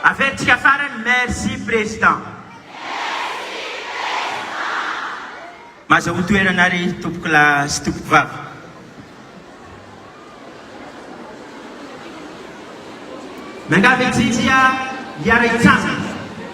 Averitsika farany merci président. Maza ho toerana ary tompoko lahy sy tompoko vavy. Miangavy antsika hiara-hitsangana.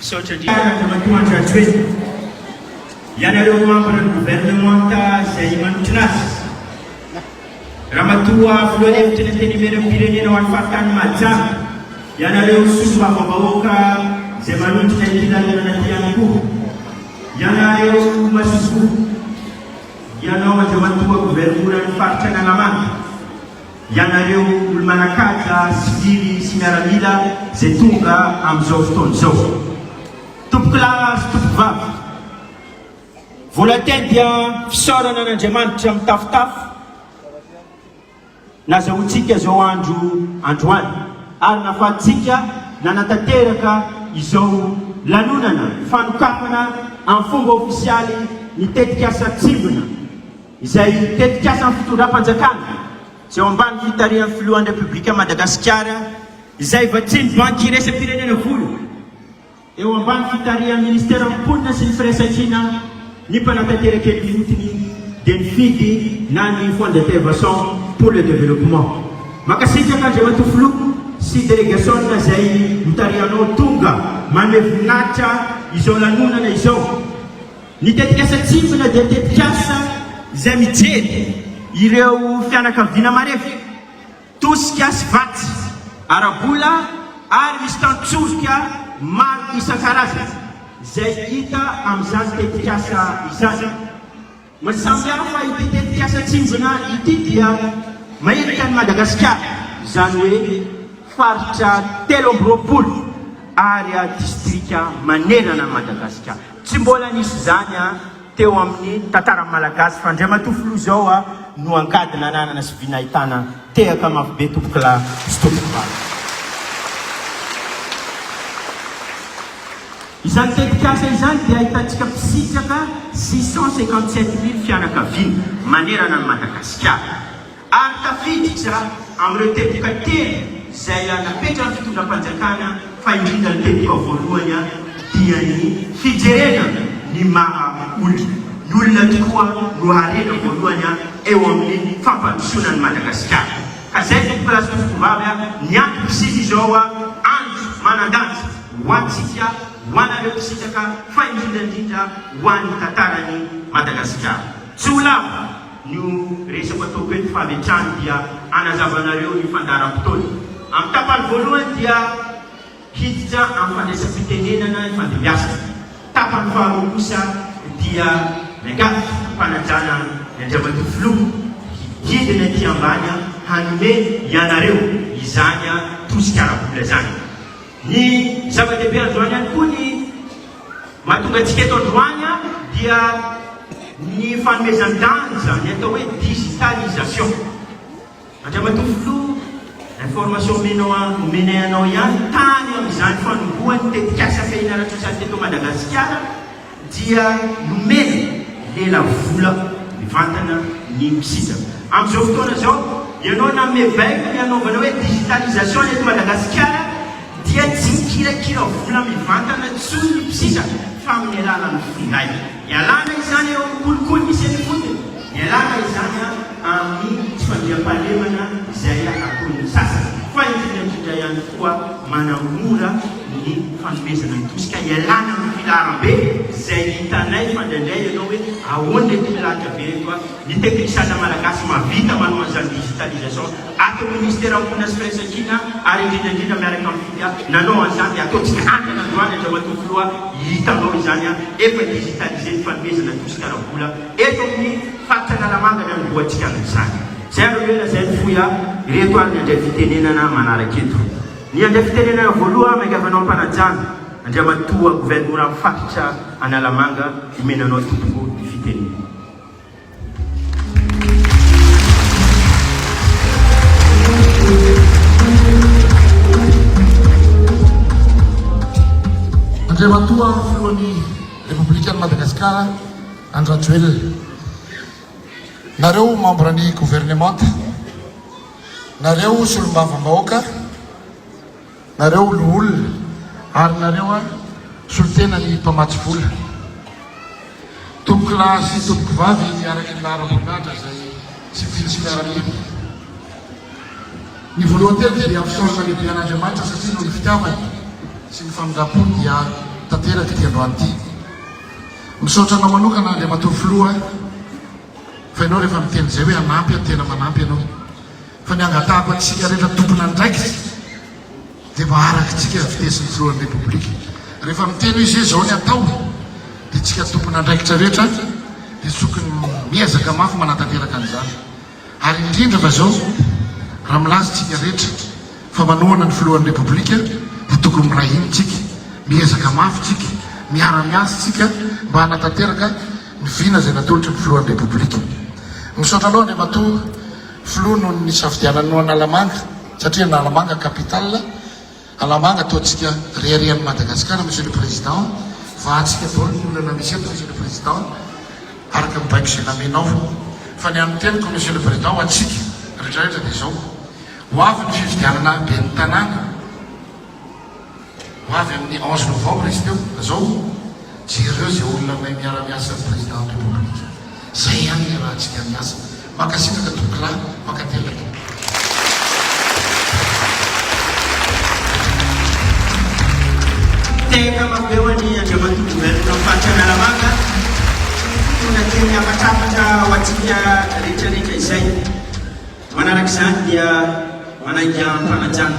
Misaotra indrindra Andriamatoa Andry Rajoelina, ianareo mambra ny governemanta izay manotrona azy, Ramatoa Filohan'ny Hevitry ny Antenimieram-pirenena ho an'ny Faritany Mahajanga, ianareo Solombavambahoaka izay manondrona ity lanonana ity ihany koa, ianareo Masoivoho, ianao Andriamatoa Governoran'ny Faritra Analamanga, Ianareo olo-manan-kaja, sivily sy miaramila izay tonga amin'izao fotoana izao. Tompoko lahy sy tompoko vavy, volontaires dia fisaorana an'Andriamanitra mitafotafo nazahoantsika izao andro androany ary nahafahantsika nanatanteraka izao lanonana fanokafana amin'ny fomba ofisialy ny tetikasa Tsimbina. izay tetikasan'ny fitondram-panjakana izay ao ambany fitarihan'ny filohan'ny Repoblikan'i Madagasikara izay vatsian'ny Banky iraisam-pirenena vola eo ambany fitarihan'ny Ministeran'ny Mponina sy ny Firaisankina ny mpanatanteraka eny Ihotiny dia ny FIDH na ny Fonds d'intervention pour le développement. Mankasitraka Andriamatoa Filoha sy Delegasionina izay notarihanao tonga manome voninahitra izao lanonana izao. Ny tetikasa Tsindrona dia tetikasa izay mijery ireo fianakaviana marefo, tosika sy vatsy ara-bola ary misy tantsoroka maro isan-karazany izay hita amin'izany tetikasa izany. Mahasamihafa ity tetikasa Tsindrona ity dia mailika an'i Madagasikara, izany hoe faritra telo amby roapolo ary distrika manerana an'i Madagasikara. Tsy mbola nisy izany an teo amin'ny tantaran'ny Malagasy fa Andriamatoa Filoha izao an no angady nananana sy vina ahitana an. Tehaka mafy be tompokolahy sy tompokovavy. Izany tetikasa izany dia ahitantsika mpisitraka six cent cinquante sept mille fianakaviana manerana an'i Madagasikara. ary tafiditra amin'ireo teboka telo izay napetran'ny fitondram-panjakana fa indrindra ny teboka voalohany dia ny fijerena ny maha olona, ny olona tokoa no harena voalohany eo amin'ny fampandrosoana an'i Madagasikara ka izay tompoko lahy sy tompoko vavy ny antoko isika izao andro manan-danja ho antsika ho anareo mpisintaka fa indrindra indrindra ho an'ny tantaran'i Madagasikara tsy ho lavo. Io resako ataoko eto fametrany dia hanazavanareo ny fandaharam-potoana. Amin'ny tapany voalohany dia hiditra amin'ny fandraisam-pitenenana ifandimbiasana. Tapany faharoa kosa dia miangavy am-panajana ny Andriamatoa Filoha hidina ety ambany hanome ianareo izany tosika ara-bola izany. Ny zava-dehibe androany ihany koa ny mahatonga antsika eto androany dia ny fanomezan-danja ny atao hoe digitalisation. Andriamatoa Filoha, information omenao omenay anao ihany, tany amin'izany fanombohan'ny tetikasa fehiny ara-tsosialy teto Madagasikara, dia nomena lela vola mivantana ny mpisintaka. Amin'izao fotoana izao, ianao na mievaiko ny hanaovana hoe digitalisation eto Madagasikara dia tsy mikirakira vola mivantana intsony ny mpisintaka fa amin'ny alalan'ny finday. Ialana izany eo amin'ny kolikoly misy eny ifotony. Ialana izany amin'ny tsy fandriampahalemana izay ataon'ny sasany, fa indrindra indrindra ihany koa manamora ny fanomezana ny tosika. Ialana amin'ny filaharam-be izay hitanay fa indraindray ianao hoe ahoana ity milahatra be ireto. Ny teknikisiana malagasy mahavita manao an'izany digitalisation ato amin'ny Minisiteran'ny Mponina sy Firaisankina ary indrindra indrindra miaraka amin'ny Fidia nanao an'izany dia ataontsika hatrany androany, Andriamatoa Filoha, hitanao izany efa digitalisé ny fanomezana tosika ara-bola. Eto amin'ny faritra Analamanga ny anombohantsika amin'izany. Izay ary no ela izay no fohy ahy. Ireto ary ny handray fitenenana manaraka eto. Ny handray fitenenana voaloha aho miangavy anao ampanajana, Andriamatoa Governoran'ny faritra Analamanga, omena anao tompoko ny fitenenana. Andriamatoa Filohan'ny. Repoblikan'i Madagasikara Andry Rajoelina. Nareo membre ny governemanta, nareo solombavambahoaka, nareo loholona ary nareo solontena ny mpamatsy vola. Tompokolahy sy tompokovavy araka ny laharam-boninahitra izay. Tsy vitsy ny araliana. Ny voalohany teto dia hampisaorana lehibe an'Andriamanitra satria noho ny fitiavany sy ny famindram-pony dia tanteraka ity androany ity. Misaotra anao manokana Andriamatoa Filoha fa ianao rehefa miteny izay hoe hanampy aho tena manampy ianao fa ny hangatahako antsika rehetra tompon'andraikitra Dia mba arakitsika fitesin'ny filohan'ny Repoblika. Rehefa miteny hoe izay izao ny atao, dia tsika tompon'andraikitra rehetra dia tokony miezaka mafy manatanteraka an'izany. Ary indrindra fa izao, raha milaza tsika rehetra fa manohana ny filohan'ny Repoblika, dia tokony miray hina tsika, miezaka mafy tsika, miara-miasa tsika mba hanatanteraka ny vina izay natolotry ny filohan'ny Repoblika. Misaotra anao Andriamatoa Filoha noho ny nisafidiananao an'Analamanga. Satria Analamanga capital Alamanga ataontsika reharehan'i Madagasikara Monsieur le Président, vahantsika daholo ny olana misy eto Monsieur le Président, araka ny baiko izay namenao, fa ny an'ny teniko Monsieur le Président ho antsika retraretra dia izao, ho avy ny fifidianana ben'ny tanàna, Ho avy amin'ny onze novembre izy teo ka zao jereo zay olona mahay miara miasa ny président république zay ihany iarahantsika miasa mankasitraka tompokolahy mankatelina tompokolahy. Tena mampeo an'i Andriamatoa Gouverneur Faritra Analamanga fotoana kely hafatrafatra ho antsika rehetra rehetra izay. Manaraka izany dia manaiky am-panajana.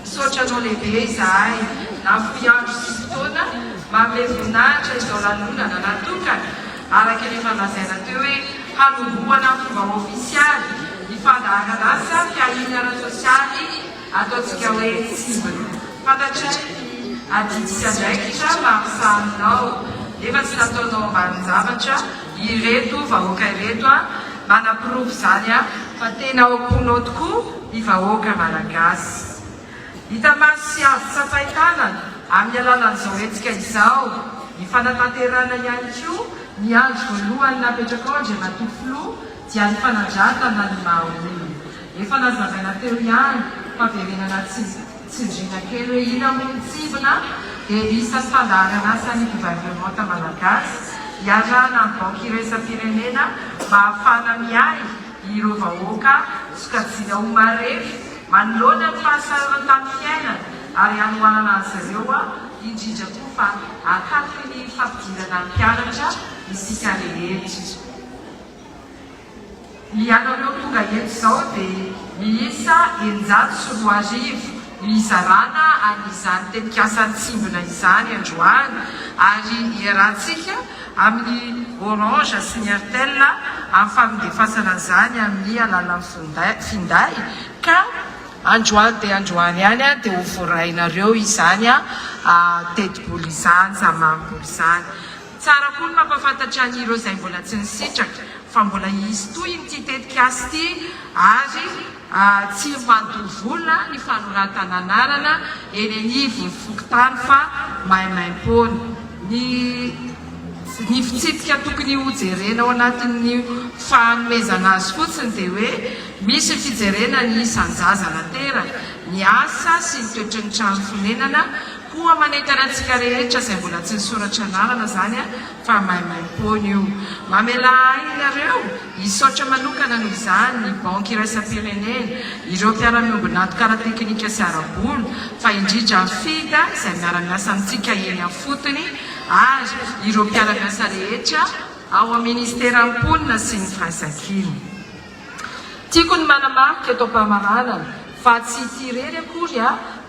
Misaotra anao lehibe izahay nahafoy andro sy fotoana manome voninahitra izao lanonana natokana araka ny efa lazaina teo hoe hanombohana fomba ofisialy ny fandaharan'asa fiahiana ara-tsosialy ataontsika hoe Cible. Fantatray ny adidy sy andraikitra maha mpisaha anao nefa tsy nataonao ambanin-javatra ireto vahoaka ireto a! Manaporofo izany aho fa tena ao am-ponao tokoa ny vahoaka Malagasy. Hita maso sy azo tsapain-tanana amin'ny alalan'izao hetsika izao ny fanatanterahana ihany koa ny andry voalohany napetrakao Andriamatoa Filoha dia ny fanandratana ny maha olona. Efa nazavaina teo ihany fa verenana tsindriana kely hoe ina moa ny tsivina dia lista sy fandaharan'asan'ny governemanta Malagasy iarahana amin'ny banky iraisam-pirenena mba hahafahana miahy Ireo vahoaka sokajiana ho marefo manoloana ny fahasarotan-tany fiainana ary hanohanana azy ireo, indrindra koa fa akaiky ny fampidirana mpianatra isika rehetra. Ny anareo tonga eto izao dia miisa eninjato sy roa arivo Hizarana an' izany tetikasa nitsimbina izany androany ary iarahantsika amin' ny Orange sy ny Airtel amin'ny famindefasana an'izany amin'ny alalan'ny finday ka androany dia androany ihany dia ho voarainareo izany tetibola izany, izany mamimboly izany. Tsara koa ny mampahafantatra an'ireo izay mbola tsy nisitraka fa mbola hisy tohiny ity tetikasa ity ary. A Tsy mandoa vola ny fanoratana anarana eny anivon'ny fokontany fa maimaimpoana. Ny Ny fitsipika tokony hojerena ao anatin'ny fahanomezana azy fotsiny dia hoe misy fijerena ny isan-jaza nateraka, ny asa sy ny toetry ny trano fonenana, koa manentana antsika rehetra izay mbola tsy nisoratra anarana izany Fa maimaimpoana io. Mamelà ahy ianareo hisaotra manokana noho izany ny Banky Iraisam-pirenena, ireo mpiara-miombon'antoka ara-tekinika sy ara-bola, fa indrindra FIDA izay miara-miasa amintsika eny afotony ary ireo mpiara-miasa rehetra ao amin'ny Minisiteran'ny Mponina sy ny Firaisankina. Tiako ny manamarika eto am-pamaranana fa tsy ity irery akory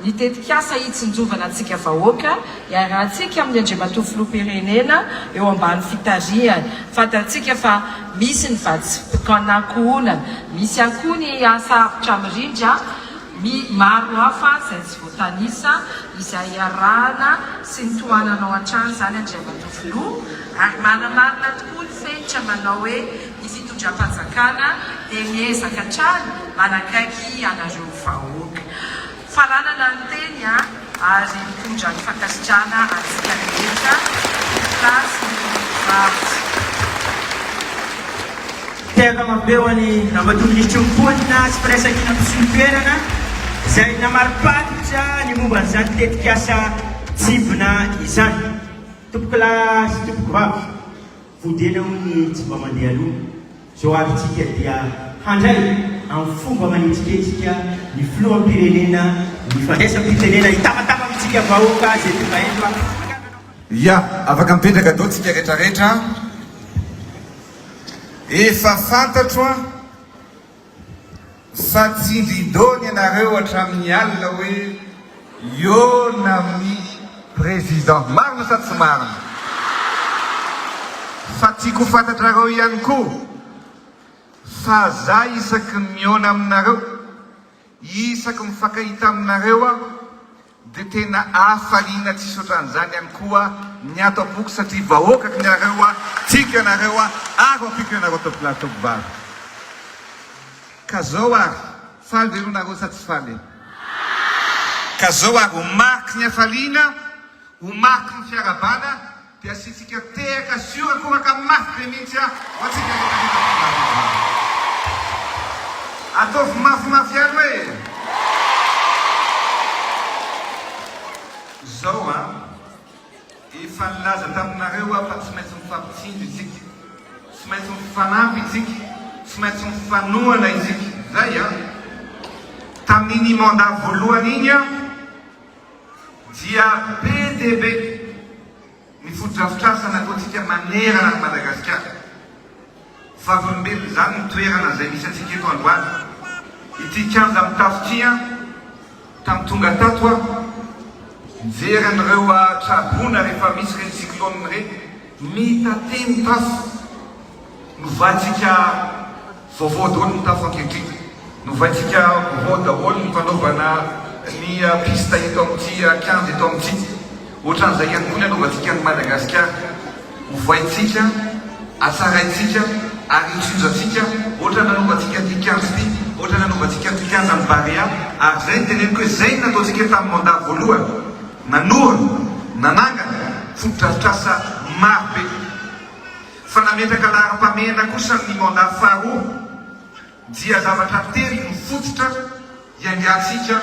ny tetikasa hitsinjovana antsika vahoaka iarahantsika amin'ny Andriamatoa Filoham-pirenena eo ambany fitarihany. Fantantsika fa misy ny vatsim-pikanankohonana, misy ihany koa ny asa avotra mirindra my maro hafa izay tsy voatanisa, izay iarahana sy ny tohananao hatrany izany Andriamatoa Filoha, ary manamarina tokoa ny fenitra manao hoe Ny fitondram-panjakana dia miezaka hatrany manakaiky anareo vahoaka. Faranana ny teny an! ary mitondra ny fankasitrahana antsika rehetra ho place ny Rafitra. Tehaka mampeo an'i Ramatoa Minisitry ny Mponina sy Firaisankina mpisolo toerana izay namariparitra ny momba an'izany tetikasa Tsivona izany. Tompokolahy sy Tompokovavy. Fodiana hoy ny tsy mba mandeha aloha, izao avy tsika dia handray amin'ny fomba manetsiketsika ny filoham-pirenena ny fandraisam-pitenena hitabataba amintsika vahoaka izay tonga eto a. Ya, afaka mipetraka dao tsika retraretra a! Efa fantatro a! Sa tsy vidon ianareo hatramin'ny alina hoe hiona amin'ny président marina sa tsy marina? Sa tiako ho fantatrareo ihany koa fa za isaky ny miona aminareo, isaky mifankahita aminareo aho, Dia tena hafaliana tsisy otran'izany ihany koa ny ato am-poko satria vahoaka kny ianareo a, tiako ianareo a, ary ompiako ianareo atao volahy ataoko vary. Ka zao ary, faly ve aloha nareo sa tsy faly e? Ka zao ary, ho mariky ny hafaliana, ho mariky ny fiarahabana, Dia asiantsika tehaka sy horakoraka mafy be mihitsy ho antsika rehetra rehefa tonga ato an-trano. Ataovy mafimafy ihany hoe. Izao an! Efa nilaza taminareo aho fa tsy maintsy mifampitsindry isika, tsy maintsy mifanampy isika, tsy maintsy mifanohana isika. Izay an! Tamin'iny mandat voalohany iny aho. dia be dia be ny fotodrafitrasa nataontsika manerana an'i Madagasikara. Vavolombelona izany ny toerana izay misy antsika eto androany. Ity kianja mitafo ity an, tamin'ny tonga tato aho, nijery an'ireo traboina rehefa misy ireny cyclone ireny, mitatea ny tafo, novantsika. Vaovao daholo ny tafo ankehitriny. Novaintsika vaovao daholo ny fanaovana ny piste eto amin'ity kianja eto amin'ity. Ohatran'izay ihany koa ny hanaovantsika an'i Madagasikara. Ovaintsika, atsaraintsika ary hotsinjantsika ohatran'ny nanaovantsika ity kianja ity, ohatran'ny nanaovantsika ny kianjan'ny Barea. Ary izay no teneniko hoe izay no nataontsika tamin'ny mandat voalohany. Nanohana, nanangana fotodrafitrasa marobe. Fa nametraka laharam-pahamehana kosa amin'ny mandat faharoa dia zavatra telo no fototra hiaingantsika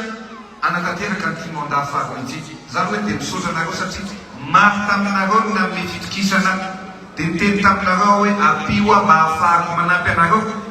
hanatanteraka an'ity mandat faharoa ity. Za aloha dia misaotra anareo satria maro taminareo no nanome fitokisana dia niteny taminareo aho hoe ampio aho mba hahafahako manampy anareo.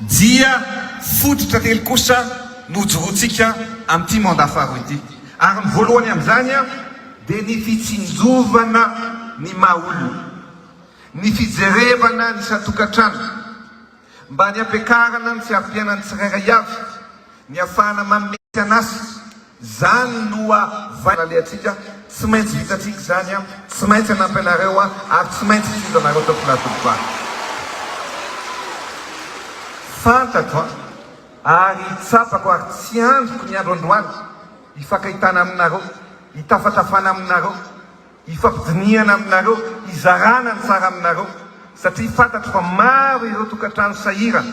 Dia fototra telo kosa no hojoroantsika amin'ity mandat faharoa ity. Ary ny voalohany amin'izany dia ny fitsinjovana ny maha olona, ny fijerevana ny isan-tokantrano mba ny hampiakarana ny fiaviam-piainan'ny tsirairay avy, ny hahafahana manome tsy an'asa, Izany no vay nalehantsika, tsy maintsy vitantsika izany, tsy maintsy hanampy anareo ary tsy maintsy hisinto anareo teo Filatovibary. Fantatro ary tsapako ary tsy andriko ny andro androany hifankahitana aminareo, hitafatafana aminareo, hifampidinihana aminareo, hizarana ny tsara aminareo satria fantatro fa maro ireo tokantrano sahirana.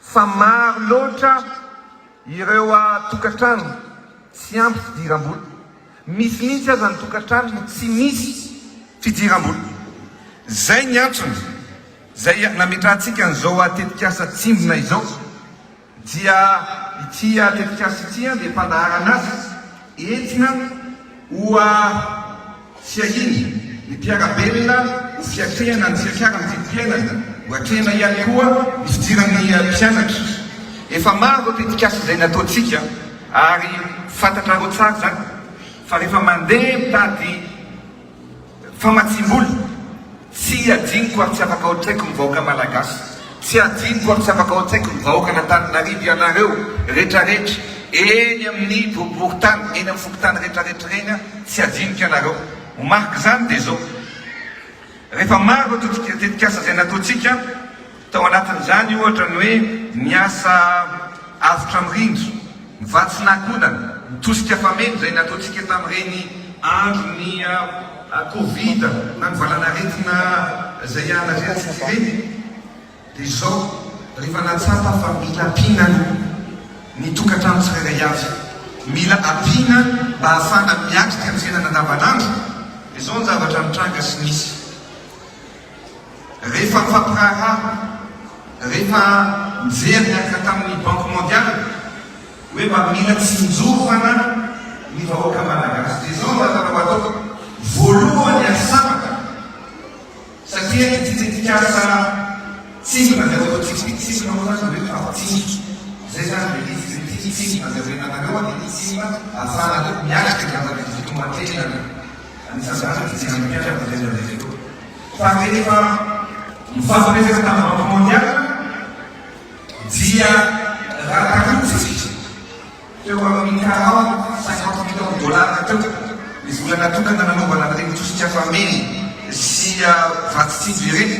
fa maro loatra ireo tokantrano tsy ampy fidiram-bola, misy mihitsy aza ny tokantrano no tsy misy fidiram-bola. Izay ny antony izay nametrahantsika an'izao tetikasa Tsimbina izao, dia ity tetikasa ity dia fandaharana azy etsy. Hoa fiahiana, ny mpiara-belona ho fiatrehana ny fiakaran'ny vidim-piainana, ho atrehina ihany koa ny fidiran'ny mpianatra. Efa maro ireo tetikasa izay nataontsika ary fantatrareo tsara izany fa rehefa mandeha mitady Famatsiam-bola, Tsy iadianko ary tsy afaka ao an-tsaiko ny vahoaka Malagasy. Tsy iadianko ary tsy afaka ao an-tsaiko ny vahoakan' Antananarivo, ianareo retraretra eny amin'ny boriborintany, eny amin'ny fokontany retraretra ireny aho tsy iadianko ianareo. Ho mariky izany dia izao, rehefa maro ireo tetikasa izay nataontsika, Tao anatin'izany, ohatra, ny hoe miasa avotra mirindra, vatsy nahakodana, mitosika fameno izay nataontsika tamin'ireny andron'ny Covid na ny valanaretina izay ianarentsintsika ireny, dia izao, rehefa nahatsapa fa mila ampiana aloha ny tokantrano tsirairay avy, mila ampiana mba hahafahana miatrika ny fiainana andavanandro, dia izao ny zavatra nitranga sy nisy. Rehefa mifampiraharaha, rehefa mijery niaraka tamin'ny Banque Mondiale hoe mba mila tsinjovana ny vahoaka Malagasy dia izao no azonao atao, voalohany aza sabaka satria ity tetikasa Tsindrona izay ho ataontsika ity, tsindrona moa izany dia hoe mifampitsindry, izay izany ilay izy, dia ity ny tsindrona zavelanareo an, dia ity tsindrona ahafahanareo miatrika ny zava-misy eto an-toerana. Anisan'izany ny fijery ny mpianatra avy any amin'ny Rio. Fa rehefa mifampirefy tamin'ny Banky Mondiale dia ratarotsitry teo amin'ny quarante, cinquante millions dollars teo ny vola natokana nanaovana an'ireny tosika fameno sy vatsy tsinjo ireny.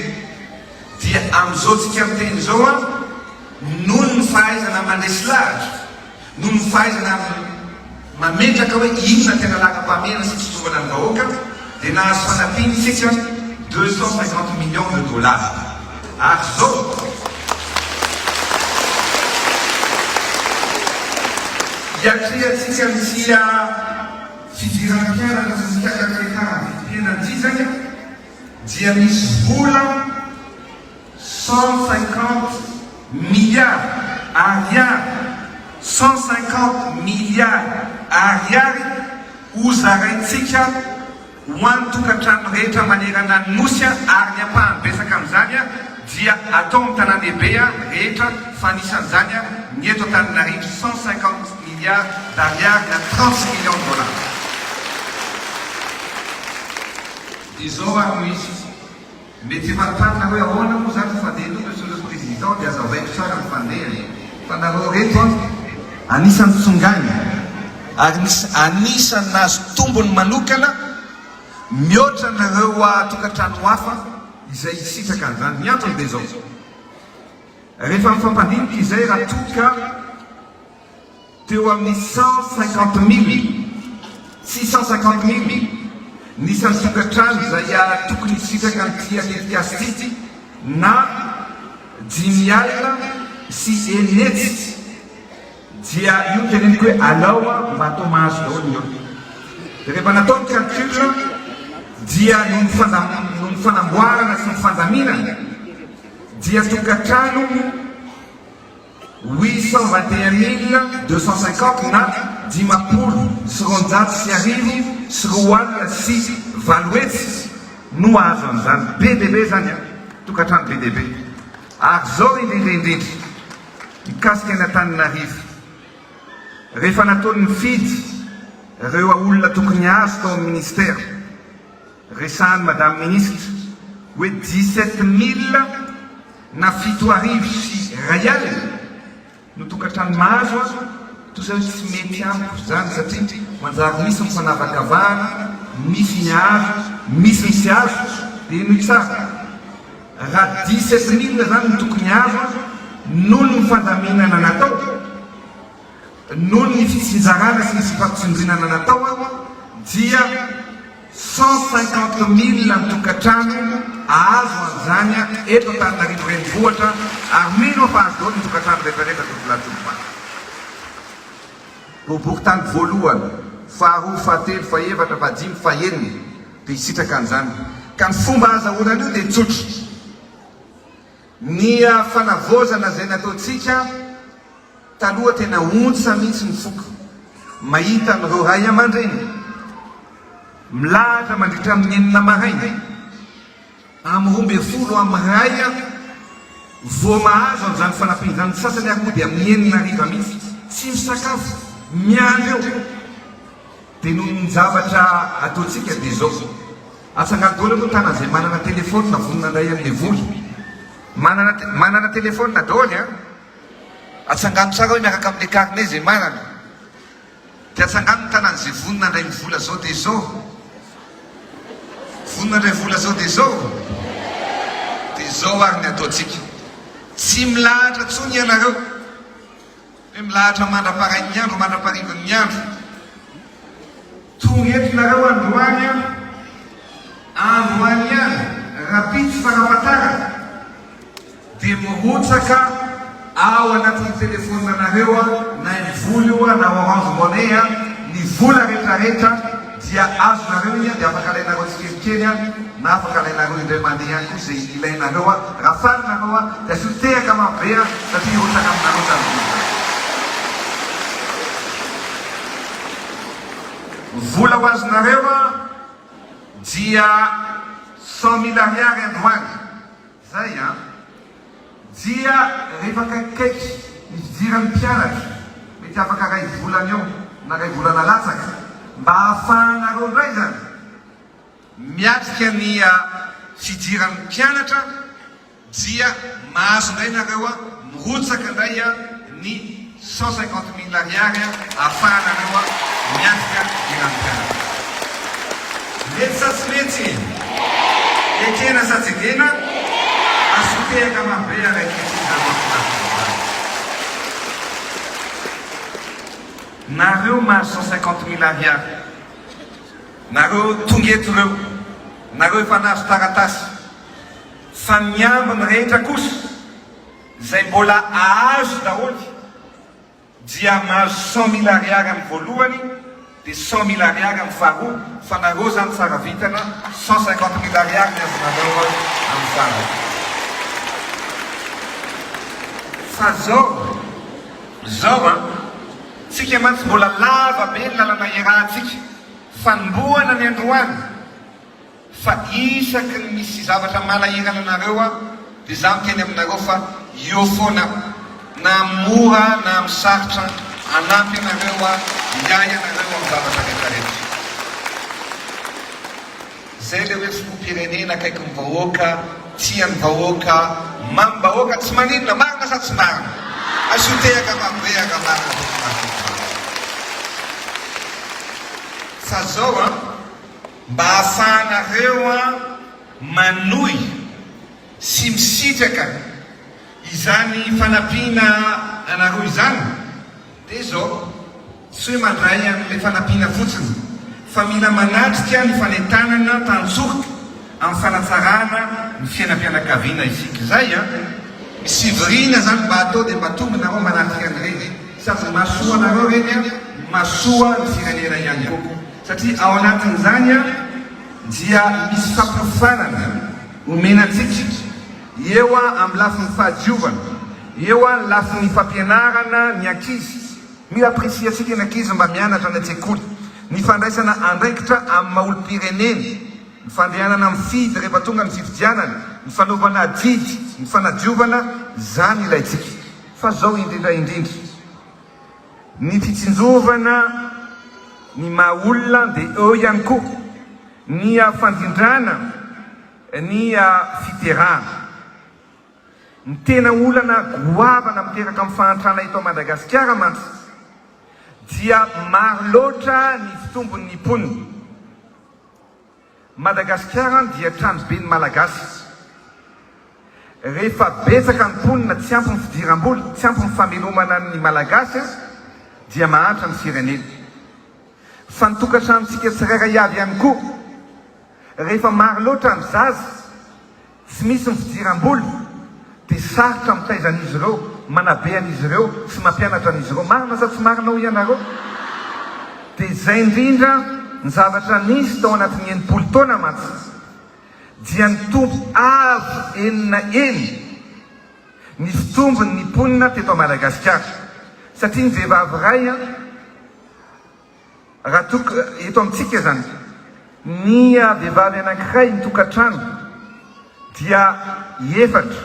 Dia amin'izao tsika miteny izao an, noho ny fahaizana mandresy lahatra, Noho ny fahaizana amin'ny mametraka hoe inona ny tena lagam-pahamehana sy fitsinjovana ny vahoaka dia nahazo fanampian'ny Fitch deux cent cinquante millions de dollars ary izao iatrehantsika ny tsia fidirana mpianatra sy ny fiakakaretahan'ny vidim-piainana ity izany dia misy vola Cent cinquante milliards Ariary, cent cinquante milliards Ariary ho zaraintsika ho an'ny tokantrano rehetra manerana ny Nosy ary ny ampahany betsaka amin'izany dia atao amin'ny tanàndehibe rehetra fa anisan'izany ny eto Antananarivo, cent cinquante milliards d'Ariary na trente millions de dollars. Izao ary no izy. Mety efa tanina hoe ahoana moa zany ny fandeha etoa Monsieur le Président dia azavaiko tsara ny fandeha e! Fa nareo reto an! Anisany tsongainy ary anisany nahazo tombony manokana mihoatra ny ireo tokantrano hafa izay hisitraka an'izany. Ny antony dia izao, rehefa mifampandinika izay raha toa ka. Teo amin'ny cent cinquante mille six cent cinquante mille ny isan'ny tokantrano izay tokony hisitraka an'ity tetikasa ity na dimy alina sy enina hetsy dia io no teneniko hoe alao mba atao mahazo daholo ny olona. Dia rehefa natao ny calcul dia noho ny noho ny fanamboarana sy ny fandaminana dia tokantrano Huit cent vingt et un mille deux cent cinquante na dimampolo sy roanjato sy arivo sy roa alina sy valo hetsy no hahazo an'izany. Be dia be izany an! Tokantrano be dia be. Ary izao indrindra indrindra, mikasika ny Antananarivo, rehefa nataon'ny fidy ireo olona tokony hahazo tao amin'ny Ministera, Resahan'ny Madame Ministra hoe dix-sept mille na fito arivo sy iray alina no tokantrano mahazo aho toa izay hoe tsy mety amiko izany satria manjary misy ny fanavakavahana, misy ny azo, misy ny tsy azo dia henoy tsara raha dix-sept mille izany no tokony azo aho noho ny fandaminana natao, noho ny fitsinjarana sy ny fifampitsindrinana natao aho dia. Cent cinquante mille ny tokantrano azo an'izany eto Antananarivo renivohitra ary mino aho fa azo daholo ny tokantrano rehetrarehetra tovolahy tovovavy. Toboky tany voalohany, faharoa, fahatelo, fahefatra, fahadimy, fahenina dia hisitraka an'izany ka ny fomba ahazahoana an'io dia tsotra. Ny fanavaozana izay nataontsika taloha tena ontsa mihitsy ny foko mahita an'ireo ray aman-dreny milahatra mandritra amin'ny enina maraina amin'ny roa ambin'ny folo amin'ny iray vao mahazo an'izany fanampiana izany, ny sasany ary mody amin'ny enina hariva mihitsy tsy misakafo miandry eo dia noho ny zavatra ataontsika dia izao. Antsanganodoana moa tana zay manana telefonina vonona andray anle vola. Manana manana telefonina daoly an! Atsangano tsara hoe miaraka amle carnet zay manana. De atsangano ny tanany zay vonona andray ny vola zao de zao. Vonona andray vola zao de zao. De zao ary ny ataontsika. Tsy milahatra tsony ianareo. Dia milahatra mandra-parain'ny andro mandra-parivin'ny andro. Tonga eto nareo androany an! Androany an! Rapitso fanafatarana dia mirotsaka ao anatin'ny telefonina nareo an! Na ny vola io an! Na orange money an! Ny vola retraretra. Dia azonareo iha dia afaka alainareo tsikelikely an, na afaka alainareo indray mandeha ihany koa izay ilainareo an, raha faly nareo an, dia asio tehaka maro be an, satria hirotsaka aminareo izany vola izany. Ny vola ho azonareo an, dia cent mille ariary androany. Izay an. dia rehefa akaikikaiky ny fidiran'ny mpianatra, mety afaka iray volana eo na iray volana latsaka, mba ahafahanareo indray izany miatrika ny fidiran'ny mpianatra, dia mahazo indray nareo mirotsaka indray ny. Cent cinquante mille ariary ahafahanareo miatrika ny ranom-pianarana. Letsy sa tsy letsy e? Ekena sa tsy ekena? Asio tehaka mafy be ary ankehitriny izany mahafinaritra izany. Nareo mahazo cent cinquante mille ariary, nareo tonga eto ireo, nareo efa nahazo taratasy, fa ny ambiny rehetra kosa Izay mbola ahazo daholo dia mahazo cent mille ariary amin'ny voalohany dia cent mille ariary amin'ny faharoa fa nareo zany tsara vintana cent cinquante mille ariary ny azonareo amin'ny farany fa zao zao an tsika mantsy mbola lava be ny lalana iarahantsika fanombohana ny androany Fa isaky ny misy zavatra manahirana anareo aho dia izaho miteny aminareo fa eo foana aho, na amin'ny mora na amin'ny sarotra, hanampy anareo aho hiahy anareo amin'ny zavatra rehetrarehetra. Izay ilay hoe filoham-pirenena akaiky ny vahoaka, tia ny vahoaka, mamim-bahoaka, tsy maninona, marina sa tsy marina? Asio tehaka marobe ary raha marina dia tsy mahazo ny vahoaka. Fa izao an! mba hahafahanareo manohy sy misitraka izany fanampiana anareo izany dia izao, tsy hoe mandray an'ilay fanampiana fotsiny fa mila manatrika ny fanentanana tantsoroka amin'ny fanatsarana ny fiainam-pianakaviana isika izay an! Misy fivoriana izany mba atao dia mba tonga nareo manatrika an'ireny, sady ny mahasoa anareo ireny an, mahasoa ny firenena ihany koa. Satria ao anatin'izany dia misy fampiofanana omena antsika, eo amin'ny lafiny fahadiovana, eo amin'ny lafiny fampianarana ny ankizy. Mila ampirisihasika ny ankizy mba mianatra any an-tsekoly, ny fandraisana andraikitra amin'ny maha olom-pireneny, ny fandehanana mifidy rehefa tonga ny fifidianana, ny fanaovana adidy, ny fanadiovana, izany ilaintsika fa izao indrindra indrindra. Ny fitsinjovana ny maha olona dia eo ihany koa ny fandrindrana ny fiterahana. Ny tena olana goavana miteraka amin'ny fahantrana eto Madagasikara mantsy dia maro loatra ny fitombon'ny mponina. Madagasikara dia tranoben'ny Malagasy izy. Rehefa betsaka ny mponina, tsy ampy ny fidiram-bola, tsy ampy ny famelomana ny Malagasy aza dia mahantra ny firenena. Fa ny tokantranontsika tsirairay avy ihany koa. Rehefa maro loatra ny zaza tsy misy ny fidiram-bola dia sarotra mitaiza an'izy ireo, manabe an'izy ireo sy mampianatra an'izy ireo. Marina sa tsy marina hoy ianareo? Dia izay indrindra ny zavatra nisy tao anatin'ny enimpolo taona mantsy dia nitombo avo enina heny ny fitombon'ny mponina teto Madagasikara satria ny vehivavy iray Raha toa ka eto amintsika izany ny vehivavy anankiray ny tokantrano dia efatra,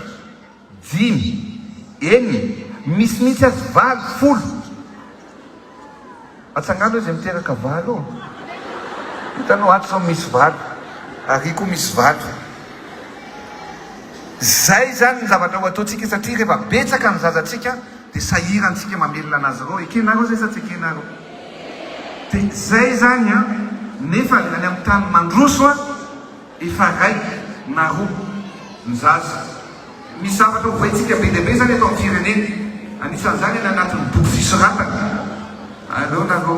dimy, enina, misy mihitsy aza valo, folo. Atsangano izay miteraka valo ô! Hitanao ato izao misy valo, ary koa misy valo. Izay izany ny zavatra ho ataontsika satria rehefa betsaka ny zazatsika, Dia sahirantsika mamelona an'azy ireo, ekenareo zay sa tsy ekenareo? Dia zay zany an! Nefa ny any amin'ny tany mandroso an! Efa raiky na roa ny zaza. Misy zavatra ho voaintsika be dia be zany eto amin'ny firenena, anisan'izany any anatin'ny boky fisoratana. Aleo nareo.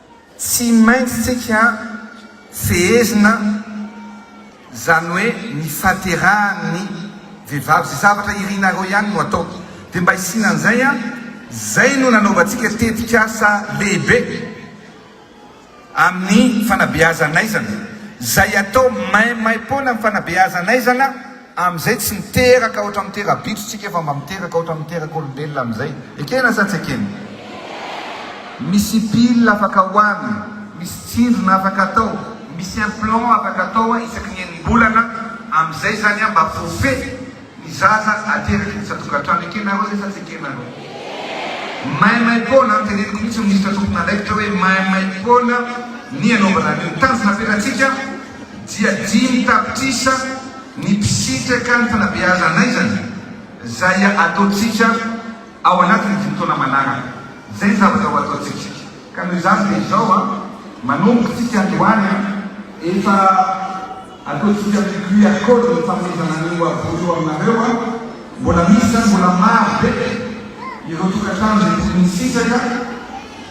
Tsy maintsy tsika fehezina zany hoe ny fahaterahan'ny vehivavy, ze zavatra irinareo ihany no atao de mba isiana an'izay an, zay no nanaovantsika tetik'asa lehibe amin'ny fanabeazan'aizana, zay atao maimaimpoana amin'ny fanabeazan'aizana, Amin'izay tsy miteraka ohatra amin'ny tera-bitro tsika fa mba miteraka ohatra amin'ny terak'olombelona amin'izay. Ekena sa tsy ekena? Misy pile afaka hoany, misy tsindrona afaka atao, misy implant afaka atao isaky ny enim-bolana, amin'izay izany mba voafehy ny zaza ateraka eny isan-tokantrano. Ekenareo izay sa tsy ekenareo? Maimaimpoana, teneniko mihitsy minisitra tompon'andraikitra hoe maimaimpoana ny hanaovana an'io. Tanjona petratsika. dia dimy tapitrisa ny mpisitraka ny fanabeazan'aizana izay ataontsika ao anatin'ny dimy taona manaraka. Izay ny zavatra ho ataontsika. Ka noho izany dia izao an, manomboka isika androany an, efa ataontsika ny QR code ny fanomezana an'io boky io aminareo an, mbola misy izany, mbola maro be ireo tokantrano izay tokony hisitraka,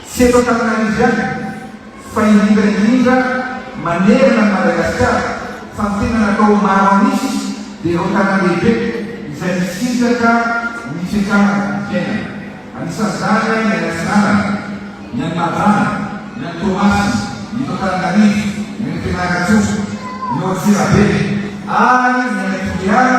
tsy eto Antananarivo ihany. fa indrindra indrindra manerana an'i Madagasikara, fa ny tena natao ho maro an'isa dia ireo tanàn-dehibe izay misitraka ny fiakarana ny fiainana. Anisan'izany ny any Atsinanana, ny any Mahajanga, ny any Toamasina, ny eto Antananarivo, ny any Fianarantsoa, ny ao Antsirabe ary ny any Toliara,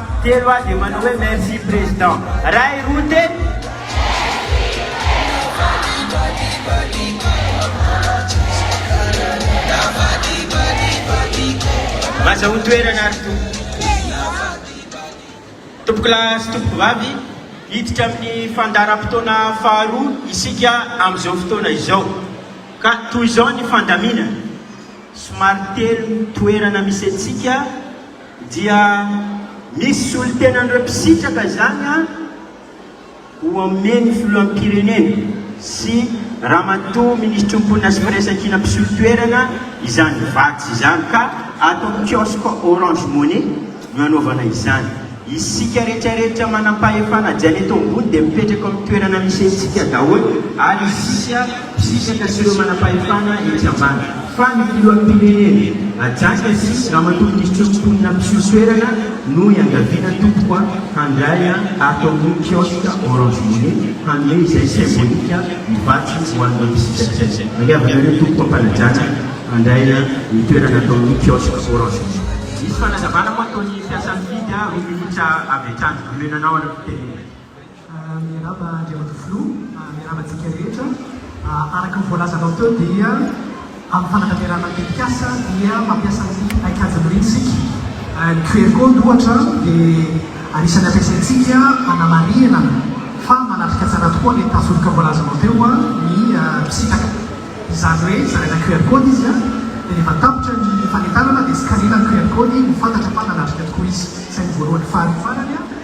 Telo aho dia manao hoe merci président. Ray roa telo. Aza ho toerana ary tompoko. Tompoko lahy sy tompoko vavy, hiditra amin'ny fandaharam-potoana faharoa isika amin'izao fotoana izao. Ka toy izao ny fandaminana, somary telo ny toerana misy antsika. Dia misy solontenan'ireo mpisitraka izany an, ho omen'ny filoham-pirenena sy ramatoa minisitry ny mponina sy firaisankina mpisolo toerana izany vatsy izany ka ato amin'ny kiosque Orange Money no anaovana izany. Isika retraretra manampahefana Janeto ambony dia mipetraka ao amin'ny toerana misy antsika daholo ary isika mpisisaka sy ireo manam-pahefana etsy ambany fa ny filoham-pirenena ajanka sy ramatoa minisitry ny mponina mpiseho toerana no iangaviana tompoko a! handray an ato amin'ny kiosque orange money hanome izay symbolique ny vatsy ho an'ireo mpisisakay mangiavanareo tompoko am-panajana handray an ny toerana ato amin'ny kiosque orange money. Misy fanazavana moa ataon'ny mpiasan'ny Didy a, roa minitra avy hatrany, omenanao araka ny tenenay. Miarahaba Andriamatoa Filoha, miarahaba antsika rehetra. Araka ny voalazanao teo dia amin'ny fanatanterahana ny tetikasa dia mampiasa ny paikady Mrin isika. Ny QR code ohatra dia anisan'ny ampiasaintsika hanamarihana fa manatrika tsara tokoa an'iny tafioka voalazanao teo ny mpisitraka. Izany hoe zaraina QR code izy dia rehefa tapitra ny fanentanana dia scanner-na ny QR code ho fantatra fa nanatrika tokoa izy. Izay no voalohany. Faharoa farany.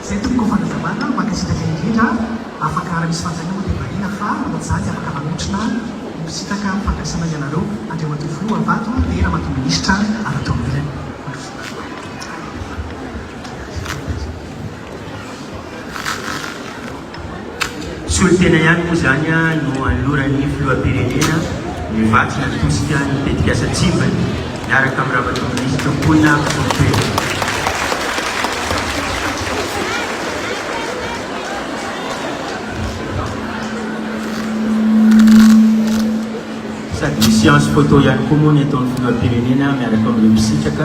Izay tomboko fanazavana ho an'ity sitraka indrindra afaka raha misy fanontaniana moa dia marina fa ohatr'izany afaka manotrona ny mpisitaka ampifandraisana ianareo Andriamatoa Filoha Havato dia Ramatoa Minisitra avy ato amin'ilany. Solontena ihany moa izany no anoloran'ny Filoham-pirenena ny vatsy natosika ny tetikasa Tsivy miaraka amin'ny Ramatoa Minisitra Mponina ambinifolo Pejy. Sady misy séance photo ihany koa moa ny ataon'ny Filoham-pirenena miaraka amin'ireo mpisitraka.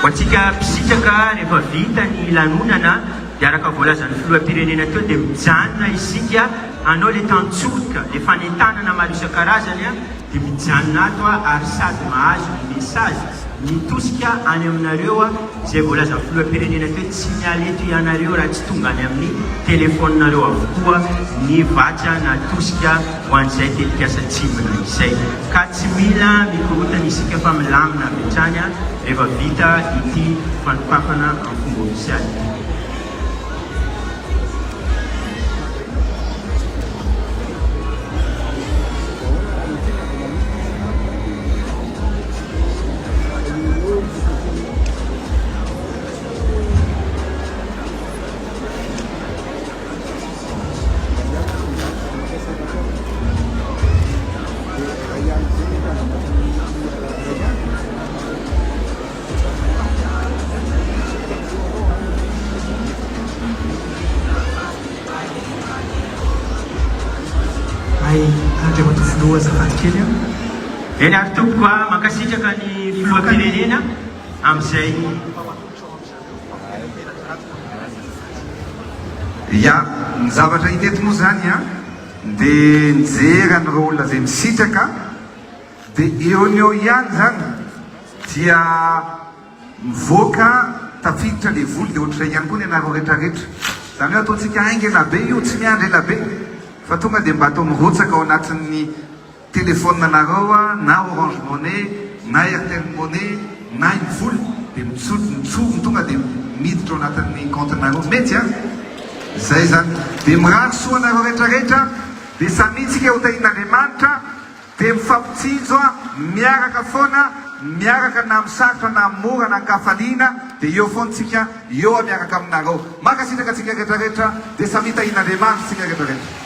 Ho antsika mpisitraka, rehefa vita ny lanonana dia araka voalazan'ny filoham-pirenena teo dia mijanona isika hanao ilay tantsoroka, ilay fanentanana maro isan-karazany dia mijanona ato ary sady mahazo ny message mitosika any aminareo izay voalazan'ny filoham-pirenena teo, tsy miala eto ianareo raha tsy tonga any amin'ny telephone-nareo avokoa ny vatsy natosika. ho an'izay tetikasa tsindrona izay ka tsy mila mikorontana isika fa milamina avy hatrany rehefa vita ity fanokafana amin'ny fomba ofisialy ity. Hay Andriamatoa Filoha azafady kely an! Eny ary tompoko a! Mankasitraka ny Filoham-pirenena amin'izay. Ya, ny zavatra hita eto moa izany an, dia nijery an'ireo olona izay misitraka, dia eo no eo ihany izany dia mivoaka tafiditra ilay voly, dia ohatr'izay ihany koa ny anareo retraretra, izany hoe ataontsika haingana be io, tsy miandry ela be fa tonga dia mba atao mirotsaka ao anatin'ny. Telephone anareo na orange money na airtel money na iny vola dia mitsory tonga dia miditra ao anatin'ny compte nareo mety a! Zay zany dia mirary soa anareo rehetra rehetra dia samia tsika ho tahian'Andriamanitra dia mifampitsinjo a! Miaraka foana miaraka na am sarotra na am mora na ankafaliana dia eo foana tsika eo a! Miaraka aminareo mankasitraka tsika rehetra rehetra dia samia tahian'Andriamanitra tsika rehetra rehetra.